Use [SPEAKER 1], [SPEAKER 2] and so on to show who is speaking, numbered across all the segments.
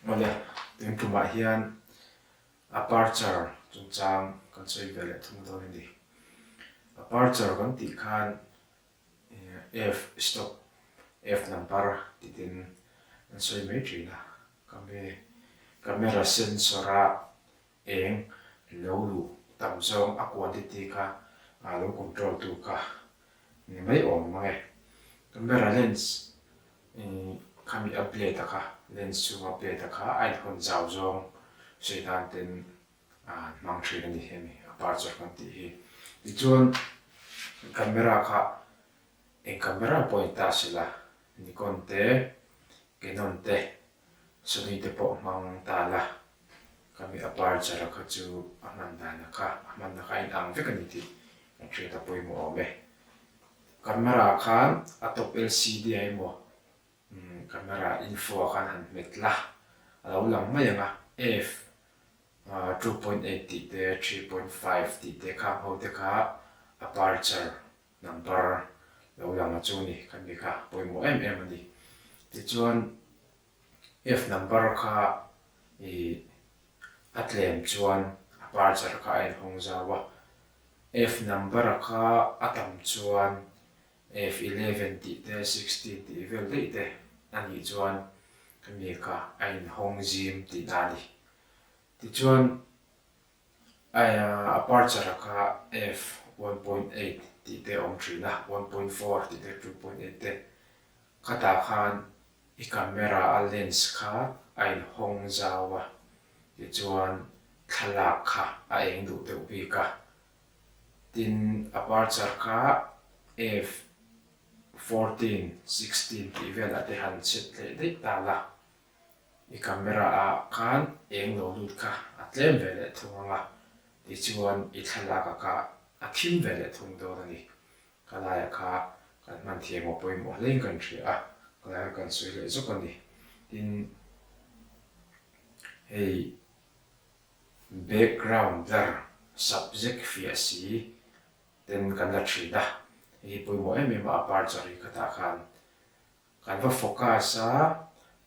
[SPEAKER 1] Mawle, eng tumah hian aperture chungchang kan sawi ve leh thung dawn a ni. Aperture kan tih khan f stop f number tih te an sawi mai thin a. Ka hme camera sensor a Eng lo lu tam zawng a kuan ti ti kha a lo control tu kha ni mai awm mang e. Camera lens i khami a plate a kha lens chhunga plate a kha a inhawn zau zawng Satan ten an hmang thin a ni a mi aperture hman tih hi. Tichuan camera kha eng camera pawh a ni ta sila Nikon te Canon te Sony te pawh hmang ta la, ka mi aperture-a kha chu a hman dana kha, a hmanna kha a inang vek a ni tih ka hriat a pawimawh awm e. Camera khan a top LCD-a emaw camera info-a khan han hmet la, a lo lang mai ang a, F two point eight tih te three point five tih te khang ho te kha aperture Number lo lang a chu ni kan mika pawimawh em em a ni. Tichuan F number kha i a tlem chuan a parchar kha a en hawng zau a. F number a kha a tam chuan F eleven tih te sixteen tih vel daih te a nih chuan kan mika a in hawng zim tihna a ni. Tichuan Aperture a kha f one point eight tih te a awm thin a, one point four tih te two point eight te khatah khan i camera a lens kha a inhawng zau a, tichuan thlalak kha a eng duh deuh bik a. Tin, aperture kha f fourteen, sixteen tih vel a te han chhet hle daih ta la. I camera ah khan eng lo lut kha a tlem ve leh thung ang a, tichuan i thlalak a kah a thim ve leh thung dawn a ni. Ka laiah kha kan hman thiam aw pawimawh hlein kan hria a, ka laiah kha kan sawi leh zawk a ni. Tin, hei background blur, subject fiah si, ten kan la thin a, hei hi pawimawh em em a, a par chawhri khatah khan Kan va focus a,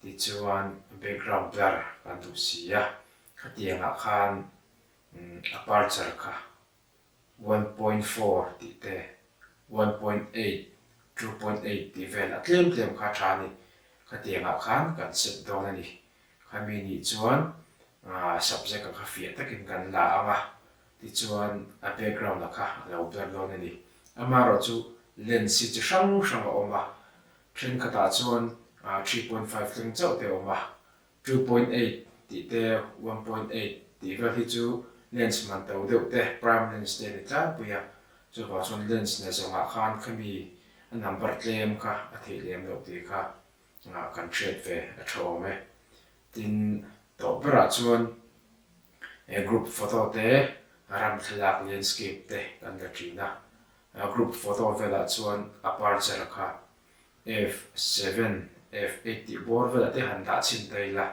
[SPEAKER 1] tichuan background blur kan duh si a, khatiangah khan aperture kha one point four tih te, one point eight, two point eight tih vel a tlem tlem kha a tha a ni, khatiangah khan kan set dawn a ni, Khami nih chuan subject a kha fiah takin kan la ang a, tichuan a background a kha a lo ber dawn a ni. Amaherawh chu lens-i chi hrang hrang a awm a, thenkhatah chuan three point five tleng chauh te a awm a, two point eight tih te, one point eight tih vel hi chu lens man to deuh te, prime lens te a ni tlangpui a, chuvang chuan lens nena zawngah khan khami a number tlem kha a theihlem loh tih kha Chungah kan hriat ve a tha awm e. Tin, tawh berah chuan he group photo te ram thlalak landscape te kan la ṭin a. A group photo velah chuan aperture kha f seven, f eight tih bawr velah te han dah chhin ta ila,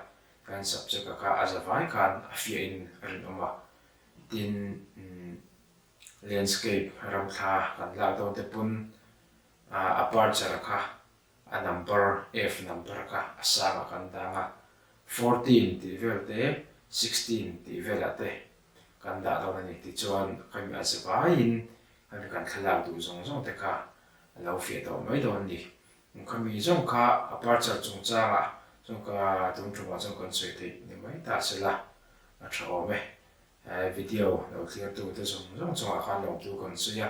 [SPEAKER 1] kan subject-a kha a za vai khan a fiahin a rinawm a. Tin, landscape ram thla kan lak dawnte pawn aperture-a kha A number F number kha a sang a kan dang a, fourteen tih vel te sixteen tih vel ah te kan dah dawn a ni tichuan khami a ze vai in khami kan thlalak duh zawng zawng te kha a lo fiah tawh mai dawn a ni. Khami zawng kha aperture chung chang ah zawng kha tum tum ah zawng kan sawi theih ni mai ta se la, a tha awm e. Video lo thlir tu te zawng zawng chung ah khan lawmtu kan sawi a,